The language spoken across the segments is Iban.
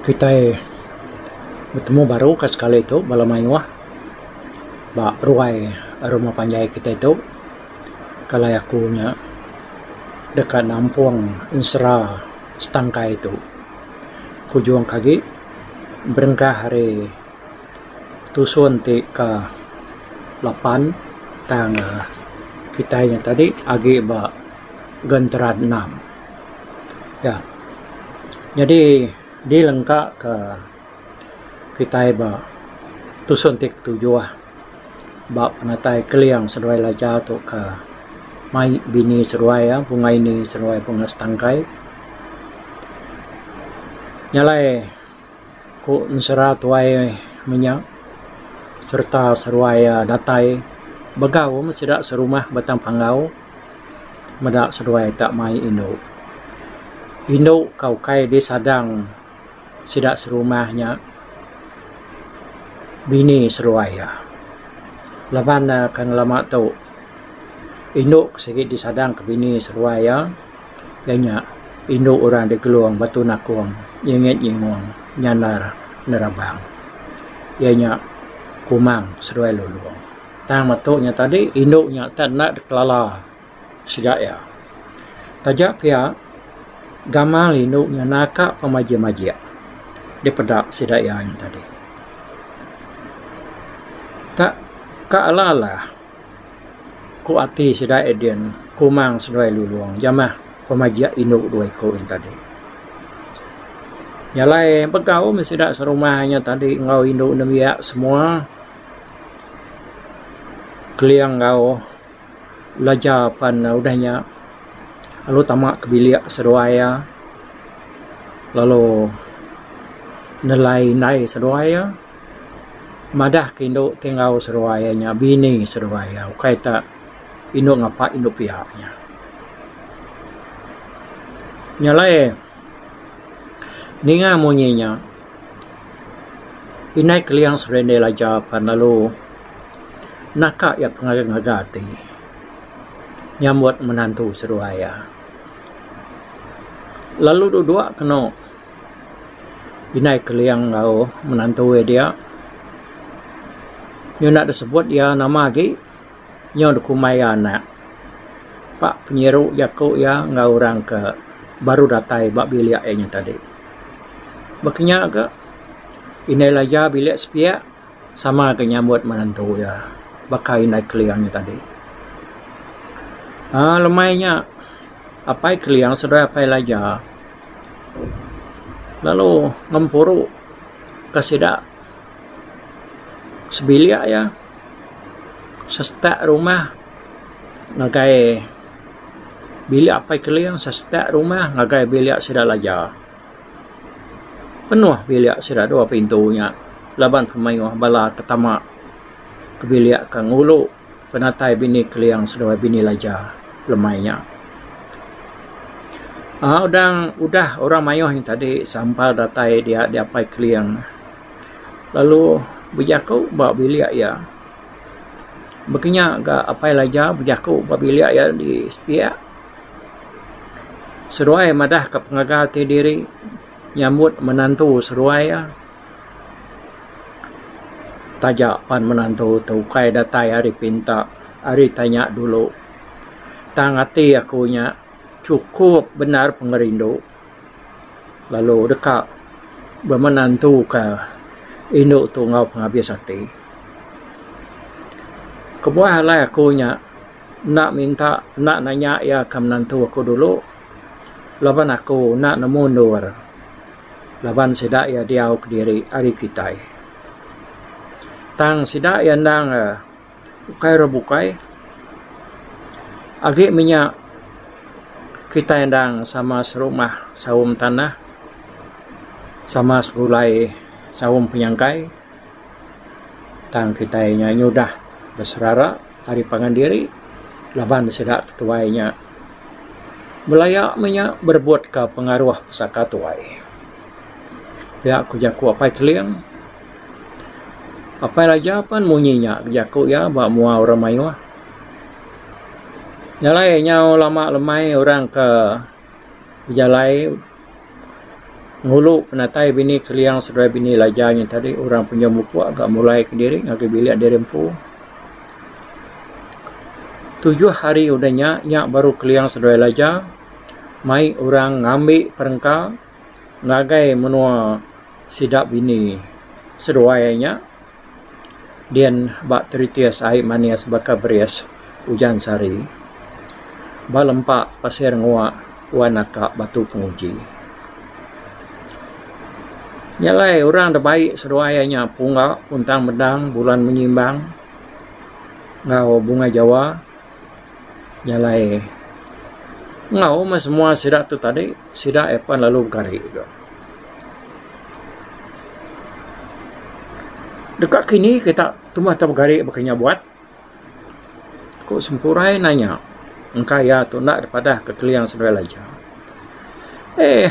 Kitai betemu baru ka sekali tu bala mayuh ba ruai rumah panjai kitai tu. kalai aku nya deka nampung ensera setangkai tu kujung agi berengkah ari tusun ti ka lapan tang kitai nya tadi agi ba gentera enam ya nyadi dilengka ka kitai ba tusun ti ketujuh. ba penatai Keling seduai Laja tu ka mai bini seduai iya bunga ini seduai bunga setangkai nya alai ku ensera tuai menya sereta seduai iya datai begau meh sida serumah batang panggau meda seduai ta mai indu. Indu ka ukai disadang. sida serumah nya bini seruai iya. Laban ne kan lama tu indu ke sigi disadang ke bini seruai iya iya nya indu orang digelung batu nakong nyengit nyingung nyanar nerabang. Iya nya Kumang seruai Lulong. Tang metu nya tadi indu nya tak enda dikelala. sida iya. Taja pia gamal indu nyana ka pemajik-majik dipeda sida iya ain tadi. Tak ka alah-alah ku ati sida iya din kumang seduai lulong jamah pemajik indu dua iku ain tadi. Iya alai begau meh sida serumah inya tadi enggau indu nembiak semua keling enggau. belajar pan udah nya lalu tama ke bilik seduai iya lalu nelai indai seduai iya madah ke indu ti enggau seduai iya nya bini seduai iya ukai ta indu ngapa indu pia nya. Nya alai ninga munyi nya Indai Keliang Serindil aja pan lalu naka iya pengaga ngaga ati nyambut menantu seduai iya. Lalu dua dua keno Indai Keliang enggau menantu iya dia nyenda disebut iya nama agi. nyau da kumbai iya anak ba penyiru jaku iya enggau orang ke baru datai ba bilik iya nyau tadi. Ba kinya ga indai laja bilik sepiak sama ga nyambut menantu iya baka indai Keling nyau tadi. uhh lemai nya Apai Keling seduai Apai Laja lalu ngempuru ka sida sebilik iya. sestak rumah ngagai bilik apai keling sestak rumah ngagai bilik sida laja penuh bilik sida dua pintu nya laban pemaioh bala ke tama ke bilik ke ngulu penatai bini keling seduai bini laja lemai nya um udang udah orang maioh nya tadi sampal datai dia diapai keling. lalu bejaku ba bilik iya baka nya ga Apai Elijah bejaku ba bilik iya di sepiak seduai madah ka pengaga ti diri nyambut menantu seduai iya taja pan menantu tu ukai datai ari pinta ari tanya dulu tang ati aku nya chukup bendar pengerindu. lalu deka bemenentuka indu tu enggau pengabis ati. Kebuah alai aku nya enda minta enda nanya iya ke menentu aku dulu laban aku enda nemu endur laban sida iya diau kediri ari kitai. Tang sida iya endang eh ukai ira bukai agi minya kitai endang sama serumah saum tanah sama segulai saum penyangkai tang kitai nya nyudah beserara ari pangan diri laban sida ketuai nya belaya menya berebutka pengaruh pesaka tuai pia ku jaku Apai Keling. Apai Raja pan munyi nya bejaku iya ba mua orang mayuh. Nya alai nyau lama lemai orang ke bejalai ngulu penatai bini Keliang seduai bini Laja nya tadi orang penyium upuk ga mulai kediri ngagai bilik diri empu. Tujuh hari udah nya, nya baru Keliang seduai Laja mai orang ngambi perengka. ngagai menua sida bini seduai nya dian ba teritis ai manis baka beris ujan sari ba lempa pasir ngua wan naka batu penguji. Nya alai orang da bai seduai nya pungga kuntang mendang bulan menyimbang enggau bunga jawa. Nya alai enggau mah semua sida tu tadi sida iya pan lalu begari ka. Deka kini kita tumah kita begari baka inya buat ku sempurai nanya engka iya tu enda dipadah ka Keliang Seduai Laja. Eh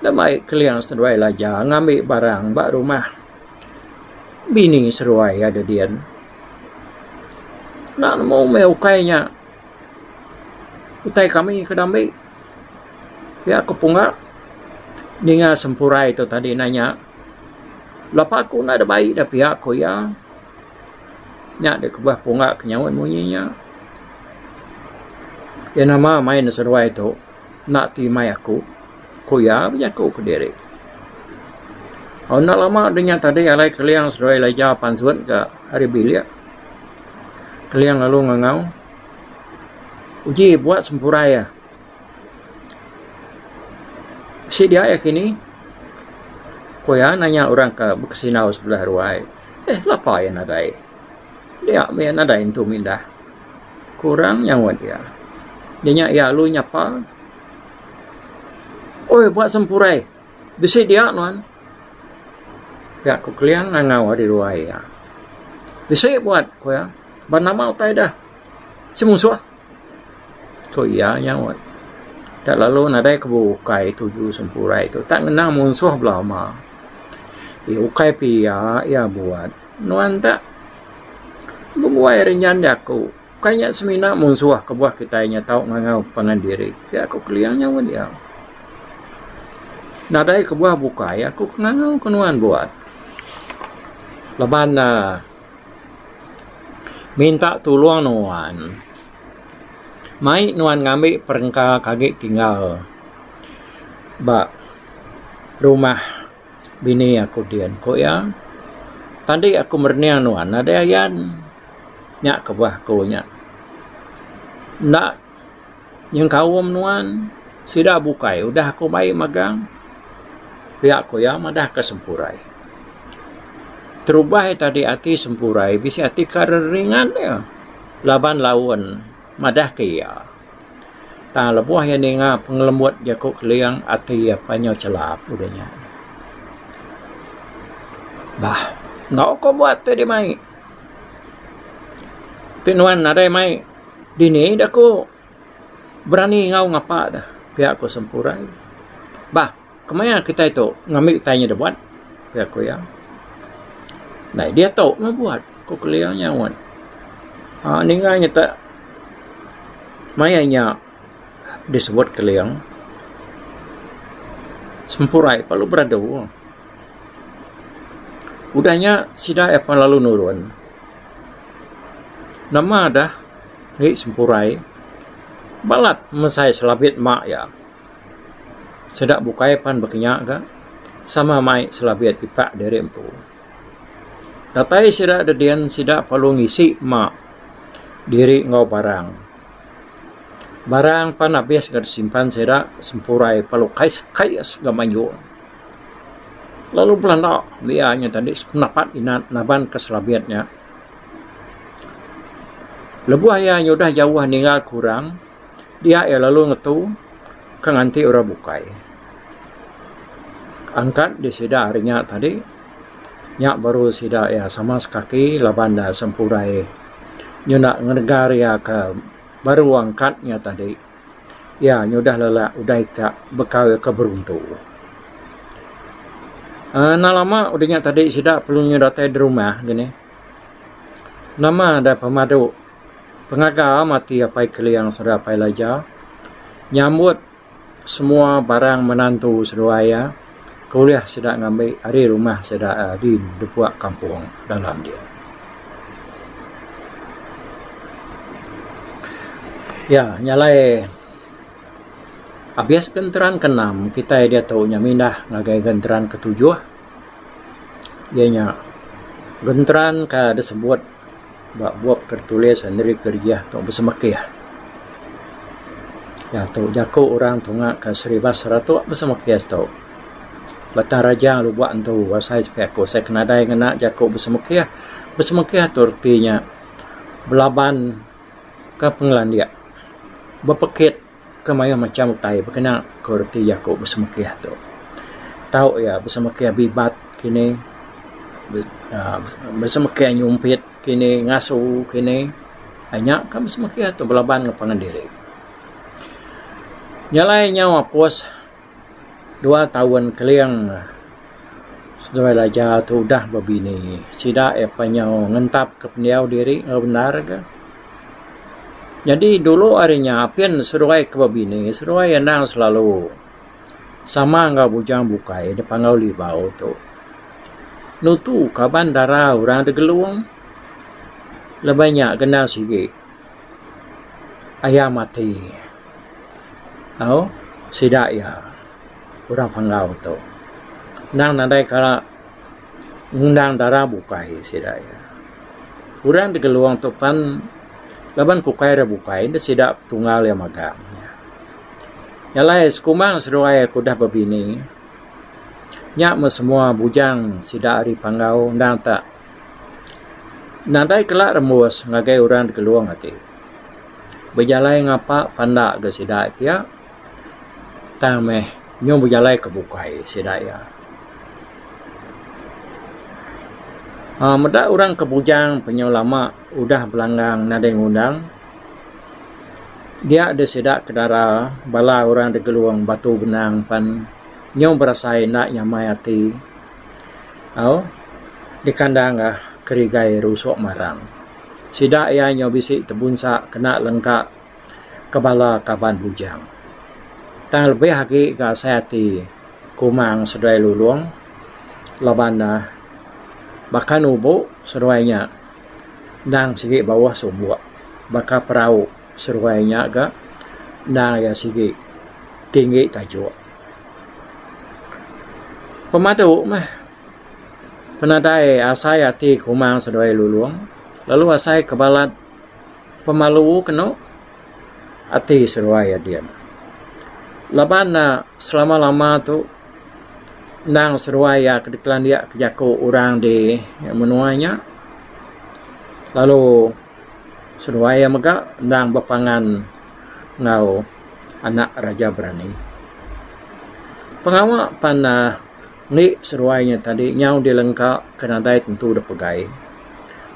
enda mai Keliang Seduai Laja ngambi barang ba rumah bini seduai iya didin. Enda nemu meh ukai nya. Utai kami ke dambi pia ku punga ninga sempurai tu tadi nanya lapa ku enda dep ai dah pia ku iya. Nya deh kubah punga ke nyaut munyi nya. Iya nama main seduai tu. enda ti mai aku, ku iya bejaku kediri. Au enda lama dunya tadi alai Keliang seduai Elijah apan Zut ga ari bilik. Keliang lalu ngangau, Uji buat sempurai iya. Bisi dia iya kini? ku iya nanya orang ke bekesinau sebelah ruai. Lapa iya nadai? Dia mih nadai intu mindah. Kurang nyawat iya. Nya nya iya lalu nyapa, Oi ba sempurai, bisi dia nuan. Pia ku Keling ngangau ari ruai iya. Bisi buat, ku iya. Ba nama utai deh. Semusuh, ku iya nyawat. Tak lalu nadai ke bukai tuju sempurai tu. Tak ngena munsuh bela ama. Ukai pia iya buat. Nuan ta bebuai ri nyan jaku bukai nya semina munsuh kebuah kitai nya tau ngangau pangan diri pia ku Keling nya meh diau. Nadai kebuah bukai aku ke ngangau ke nuan buat laban uhh minta tulung nuan mai nuan ngambi perengka ke agi tinggal ba rumah. Bini aku din, ku iya. Tadi aku merening nuan nadai ayan. Nya kebuah aku nya. Enda nyengkaum nuan. Sida bukai udah aku mai magang. Pia ku iya madahka sempurai. Terubah iya tadi ati sempurai bisi ati ka reringat iya laban laun. Madahka iya, tang lebuh iya ninga pengelembut jaku Keling ati iya panyu chelap udah nya. Bah, enda uko buat ti deh mai. Ti nuan nadai mai dini deh ku berani ngau ngapa deh pia ku Sempurai. Bah. Kemaya kitai tu ngambi utai nya dibuat? ku aku iya. Nadai diatu meh buat, ku kelia nyaut. Aaa ninga nya tak maya nya disebut keling sempurai lalu beradu. Udah nya sida iya pan lalu nurun. Nama dah ngi sempurai balat mesai selabit mak iya. Sida bukai pan bakanya ga sama mai selabit kipak diri empu. Datai sida da din sida perlu ngisi ma diri enggau barang. Barang pan abis ga disimpan sida sempurai perlu kai kai ga mayuh. Lalu belanda mih iya nya tadi sependapat inan naban ka selabit nya. Lebuh iya nyudah jauh ninggal ke orang. Dia iya lalu ngetu ke nganti orang bukai. Angkat di sida hari nya tadi nya baru sida iya sama sekaki laban ne sempurai nyuda ngenegar iya ke baru angkat nya tadi iya nyudah lelak udah ika bekau iya ke beruntu. uhh enda lama udah nya tadi sida perlu datai rumah dini. Nama deh pemadu. Pengaga mati Apai Keliang sereta Apai Elijah nyambut semua barang menantu seduai iya ke ulih sida ngambi ari rumah sida di Depua Kampung Dalam dia. Iya nya alai abis genteran ke enam kitai diatu nya mindah ngagai genteran ke tujuh iya nya genteran ka disebut Ba bup ke ditulis enti kerijih tu besemekih. Iya tu jaku orang tunga ke Seribas Seratok besemekih tu. Batang Raja Lubok Antu asai sekiat aku asai ke nadai ngena jaku besemekih. Besemekih tu reti nya belaban ke pengelandik, bepekit. ke mayuh macham utai bekena kualiti aku besemekih tu. Tau iya besemekih bibat kinih uhh besemekih nyumpit kinih ngasu kinih uhh nya ka besemekih tu belaban enggau pangan diri. Nya alai nyau apus. dua taun keling lah seduai raja tu udah bebini sida iya pa nyau ngentap ka pendiau diri enggau bendar ga. Nyadi dulu ari nya apin seduai ke bebini seduai endang selalu sama enggau bujang bukai da Panggau Libau tu nutu kaban dara orang da Gelong laban nya kena sigi. Aya mati au sida iya orang Panggau tu endang nadai kala ngundang dara bukai sida iya. Orang Tegelong tu pan laban ke ukai ira bukai enda sida petunggal iya magang. Nya alai sekumang seduai aku dah bebini nya meh semua bujang sida ari Panggau endang tak Nadai kala rembus ngagai orang dikelung ati. Bejalai ngapa panda ga sida pia tang meh nyung bejalai ke bukai sida iya. uhh meda orang ke bujang pe nyau lama udah belanggang nadai ngundang dia deh sida ke dara bala orang dikelung batu benang pan nyung berasai enda nyamai ati. au dikandang ga kerigai rusok marang sida ia nyau bisi tebunsa kena lengka ke bala kaban bujang tang lebih agi ga asai ati kumang seduai lulong laban ne baka nubo seduai nya endang sigi bauh sumbok baka perau. Seruai nya ga endang iya sigi tinggi tajuk. Pemadu meh penadai asai ati kumang seduai lulong lalu asai ke balat pemalu kenu ati seruai adin. Laban ne selama-lama tu endang seruai iya ke dikelandik ke jaku orang di menua nya lalu. seduai iya mega endang bepangan enggau anak Raja Berani. Pengawa pan uhh indi seduai nya tadi nyau dilengka ke nadai tentu dep pegai.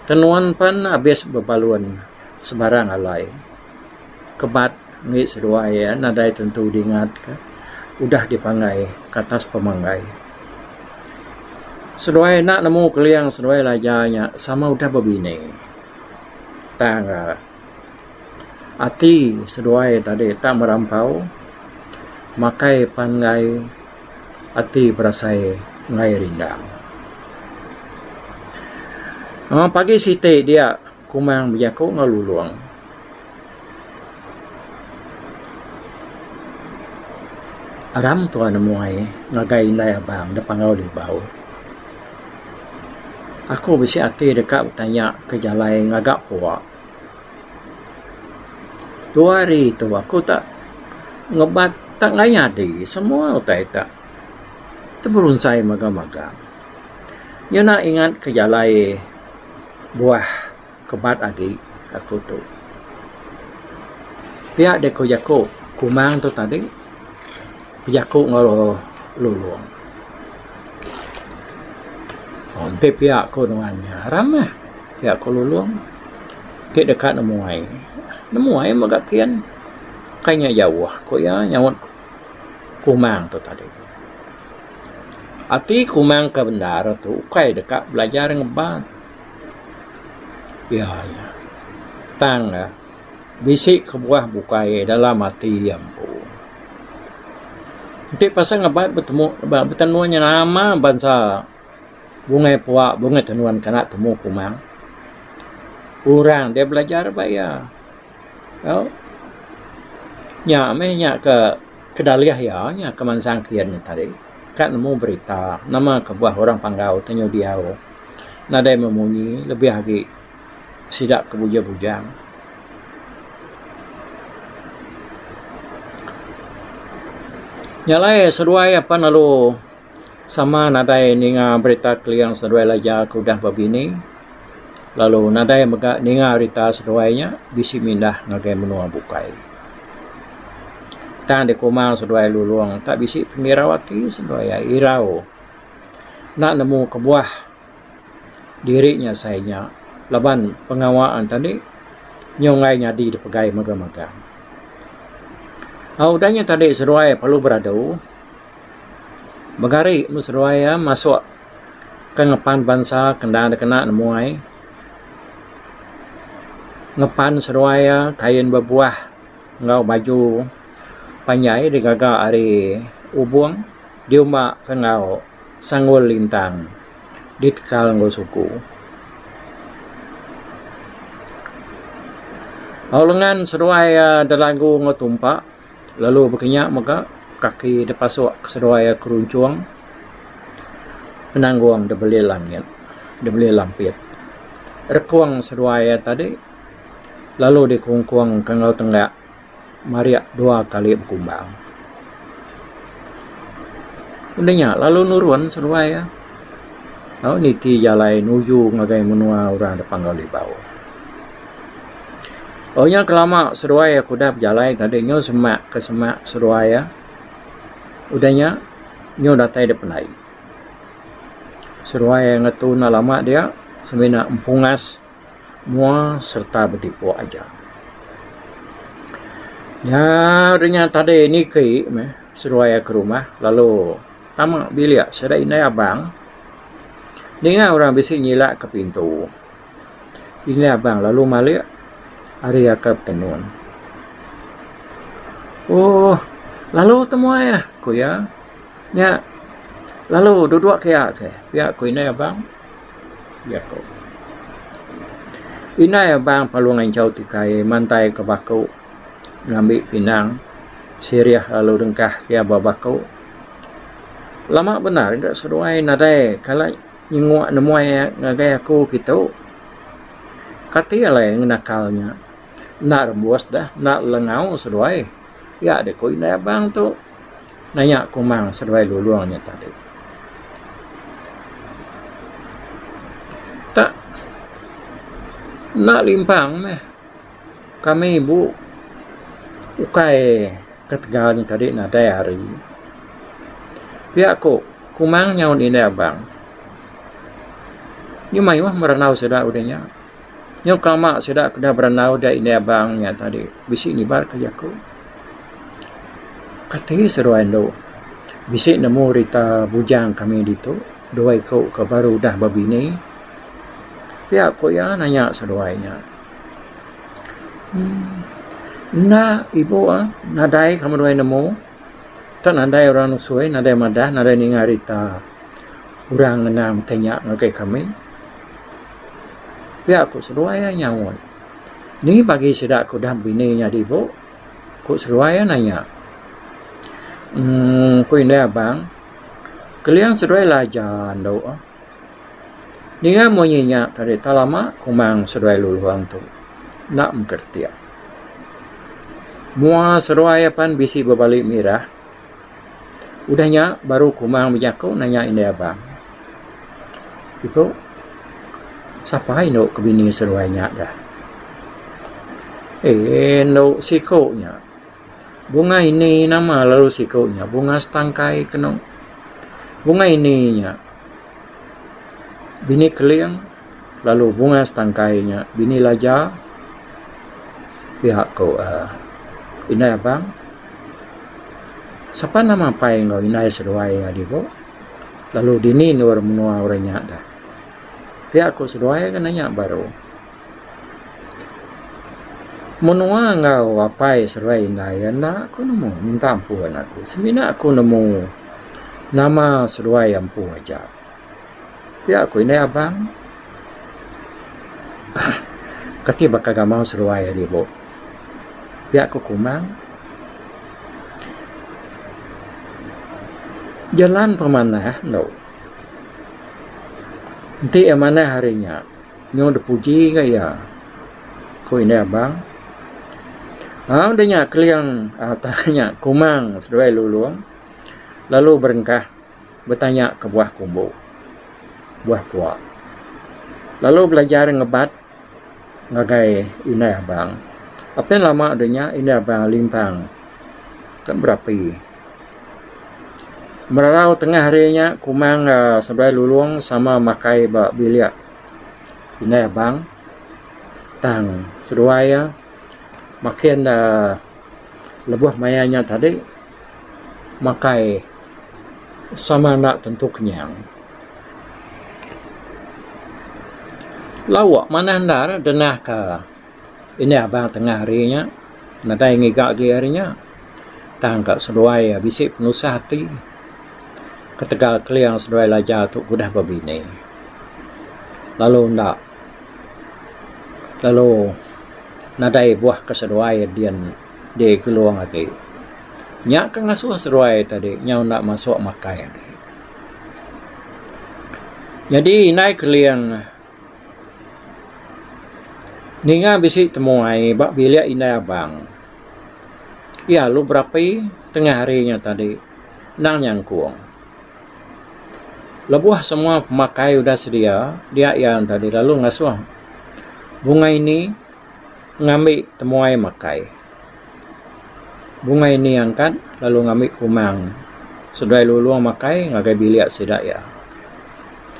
Tenun pan abis bebalun sebarang alai. kebat indi seduai iya nadai tentu dingat ka udah dipanggai ka atas pemanggai. Seduai enda nemu keling seduai laja nya sama udah bebini tang ka ati seduai tadi tak merampau makai panggai ati berasai enggai rindang. Aaa pagi siti dia. Kumang bejaku enggau Lulong. Aram tuan amuai ngagai indai abang da panggau Libau. Aku bisi ati deka betanya ke jalai ngaga pua. Dua hari tu aku ta ngeban ta ngai nyadi semua utai ta teberunchai magang-magang. Nyunak ingat ke jalai. buah kebat agi aku tu. Pia deh ku jaku kumang tu tadi bejaku enggau Lulong. Aaa enti pia ku nuan nya aram meh pia ku Lulong ti deka nemuai. Nemuai mega kin kai nya jauh ku iya nyaut kumang tu tadi. Ati kumang ke bendar tu ukai deka belajar ngeban. Iya nya tang ne bisi kebuah bukai dalam ati iya empu. Enti pasal ngeban betemu betemu inya nama bansa bungai pua bungai tenun kena temu kumang. Orang deh belajar ba iya. Tau. Nya meh nya ke Kedalih iya nya kemansang kian nya tadi ka nemu berita nama kebuah orang Panggau tenyu diau nadai memunyi lebih agi sida ke bujang-bujang. Nya alai seduai apan lalu. Sama nadai ninga berita Kliang seduai Elijah aku udah bebini lalu nadai mega ninga rita seduai nya bisi mindah ngagai menua bukai. Tang dikuma seduai Lulong enta bisi pengirau ati seduai iya irau enda nemu kebuah diri nya sai nya laban pengawa enta nih nyau enggai nyadi dipegai mega mega. Au udah nya tadi seduai perlu beradu. Mega ari enu seduai iya masuk ke ngepan bansa ke enda dikena nemuai. Ngepan seduai iya kain bebuah enggau baju panjai digaga ari ubung diumba ke enggau sanggul lintang ditekal enggau suku. Au lengan seduai iya delagu enggau tumpa. Lalu baka nya mega kaki da pasuk seduai iya keruncung penanggong da belih langit da belih lampit rekung seduai iya tadi lalu dikungkung ka enggau tengga marik dua kali bekumbang. Udah nya lalu nurun seduai iya lalu niti jalai nuju ngagai menua orang da Panggau Libau. Au nya kelama seduai aku udah bejalai tadi nyu semak ke semak seduai iya. Udah nya nyu datai da pendai. Seduai iya ngetu enda lama dia semina empungas mua sereta betipuk aja. Nya udah nya tadi niki meh seduai iya ke rumah lalu tama bilik sida indai abang ninga orang bisi nyilakka pintu. Inya abang lalu malik ari aka betenun. Ooh, lalu tu meh uih, ku iya. Nya lalu dua-dua kia ke, pia ku indai abang. Indai abang lalu nginchau tikai mantai ka baku ngambi pinang sirih lalu dengkah iya ba baku. Lama bendar ga seduai nadai kala. nyenguk nemuai ngagai aku kitu. Kati alai ngenakal nya. Enda rebus dah, enda lengau seduai. Pia deh ku indai abang tu naya kumang seduai Lulong nya tadi. Tak, enda limpang meh. Kami ibu ukai ketegal nya tadi nadai hari. Pia ku kumang nyaut indai abang nya mayuh meh randau sida udah nya. Nyau kelama sida ke deh berandau da indai abang nya tadi bisi nibat ka jaku. Kati seduai anu bisi nemu rita bujang kami ditu dua iku ke baru udah bebini. Pia ku iya nanya seduai nya. Enda ibu ah nadai kamu duai nemu tok nadai orang nusui nadai madah nadai ninga rita orang ngena mete nya ngagai kami pia ku seduai iya nyaut ni bagi sida ku udah bini nyadi ibu ku seduai iya nanya uhh ku indai abang keliang seduai ila aja andu. Ninga munyi nya tadi tak lama kumang seduai Luluang tu enda mengkar retik. Mua seduai iya pan bisi bebali mirah. Udah nya baru kumang bejaku nanya indai abang, Ibu, sapa indu ke bini seduai nya dah? Eeh indu siku nya. Bunga ini nama lalu siku nya bunga setangkai kenu. Bunga ini nya bini keling lalu bunga setangkai nya bini laja pia ku uhh indai abang. Sapa nama apai enggau indai seduai iya dibu lalu dini endur menua orang nya dah. Pia ku seduai ka nanya baru. Menua enggau apai seruai indai iya enda ku nemu minta ampun aku semina ku nemu nama seruai empu aja. Pia ku indai abang uhh kati baka gamal seruai ari bu pia ku kumang jalan pemanah endo enti iya manah ari nya. Nyau dipuji enggau iya, ku Indai Abang. Au deh nya Keling au tang nya Kumang seduai Lulong lalu berengkah betanya ke buah kumbu, buah pua. Lalu belajar ngebat ngagai Indai Abang. Apin lama deh nya Indai Abang limpang ke berapi. Merau tengah hari nya Kumang aaa seberai Lulong sama makai ba bilik indai abang tang seduai iya makin aaa lebuh maya nya tadi makai sama enda tentu kenyang. Lawa manah endar denah ka. Indi aba tengah hari nya nadai ngiga agi hari nya tang ka seduai iya bisi penusah ati ketegal keling seduai laja tu udah bebini lalu enda lalu nadai buah ke seduai din di Gelong agi. Nya ke ngasuh seduai tadi nyau enda masuk makai agi. Nyadi indai keling. Ninga bisi temuai ba bilik indai abang iya lalu berapi tengah hari nya tadi endang nyangkung. Lebuh semua pemakai udah sedia dia iya tadi lalu ngasuh bunga ini ngambi temuai makai. Bungai ni angkat lalu ngambi kumang seduai Lulong makai ngagai bilik sida iya.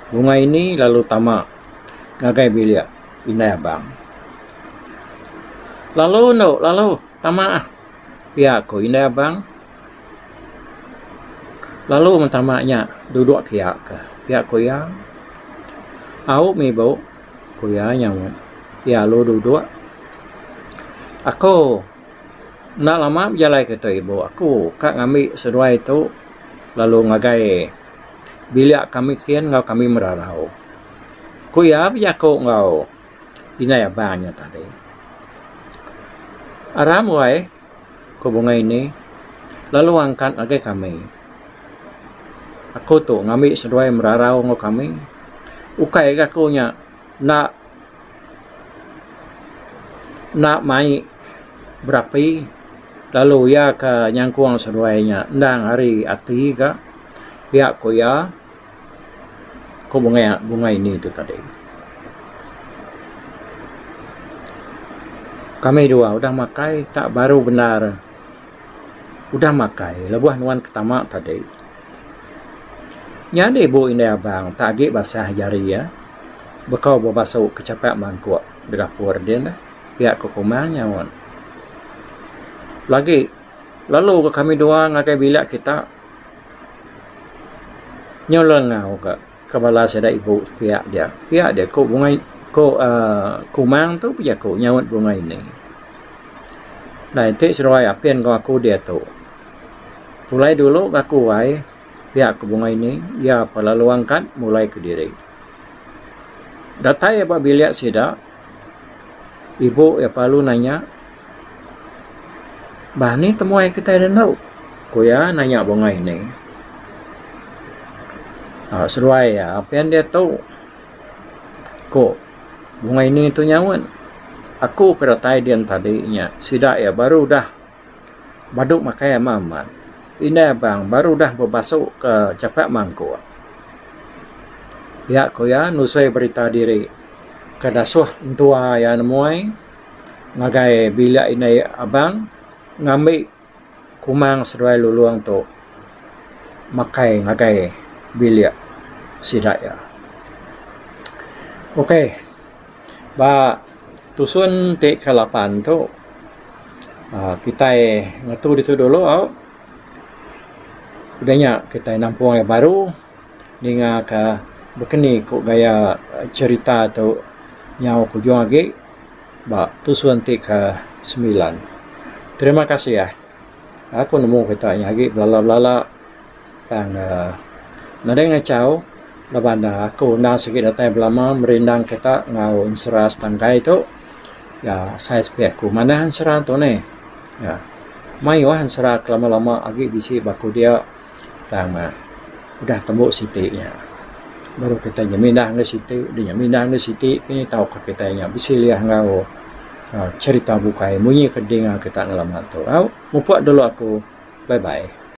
Bungai ni lalu tama ngagai bilik indai abang. Lalu endo lalu tama pia ku indai abang. Lalu men tama nya dudok kiak ka pia ku iya. Au mibu. Ku iya nyaut. Iya alu duduk. Aku enda lama bejalai kereta ibu aku ka ngambi seduai tu lalu ngagai bilik kami kin enggau kami merarau. Ku iya bejaku enggau indai abang iya tadi. Aram wai. Ku bunga ini, lalu angkat agi kami. Aku tu ngambi seduai merarau enggau kami. Ukai agi aku nya enda enda mai berapi lalu iya ke nyangkung seduai nya endang ari ati ga, pia ku iya. Ku bungai bungai indi tu tadi. Kami dua udah makai tak baru bendar udah makai lebuh nuan ketama tadi. Nyadi ibu indai abang tak agi basah jari iya bekau ba basu ke chapat mangkuk da dapur din neh pia ku Komang nyaut. Lagi lalu ga kami dua ngagai bilik kita. Nyulah enggau ka ke bala sida ibu pia dia. Pia dia ku bungai ku uhh kumang tu bejaku nyaut bungai ini. Dai ti seduai apin enggau aku diatu. Pulai dulu ga aku ai pia ku bungai ini iya pa lalu angkat mulai kediri. Datai ba bilik sida. ibu iya pelalu nanya bah anih temuai kitai da endo ku iya nanya bungai indi aaa seduai iya pia enda tu ku bungai indi tu nyaut aku ke datai dian tadi nya sida iya baru udah. Badu makai amat amat. Indai abang baru udah bebasu ke chapat mangkuk. Iya ku iya nusui berita diri ke dasuh entua iya nemuai ngagai bilik indai abang ngambi kumang seduai lulong tu makai ngagai bilik sida iya. Okey. Ba tusun ti ke lapan tu aaa kitai ngetu ditu dulu au udah nya kitai nampung ai baru ninga ka bekeni ku gaya cherita tu nyau ke ujung agi ba tusun ti ke semilan. Terima kasih ai. Aku nemu kitai nya agi belala belala. Tang nadai ngachau laban aku enda sigi datai belama merindang kita enggau ensera setangkai tu ya sai sepi aku manah ensera tu neh ya mayuh ensera ke lama lama agi bisi ba aku dia tang udah tembu siti nya baru kita nya mindah enggau siti deh nya mindah enggau siti deh tau ka kita nya besilih enggau cherita bukai munyi ke dinga kita ngelama tu au mupuk dulu aku bye bye.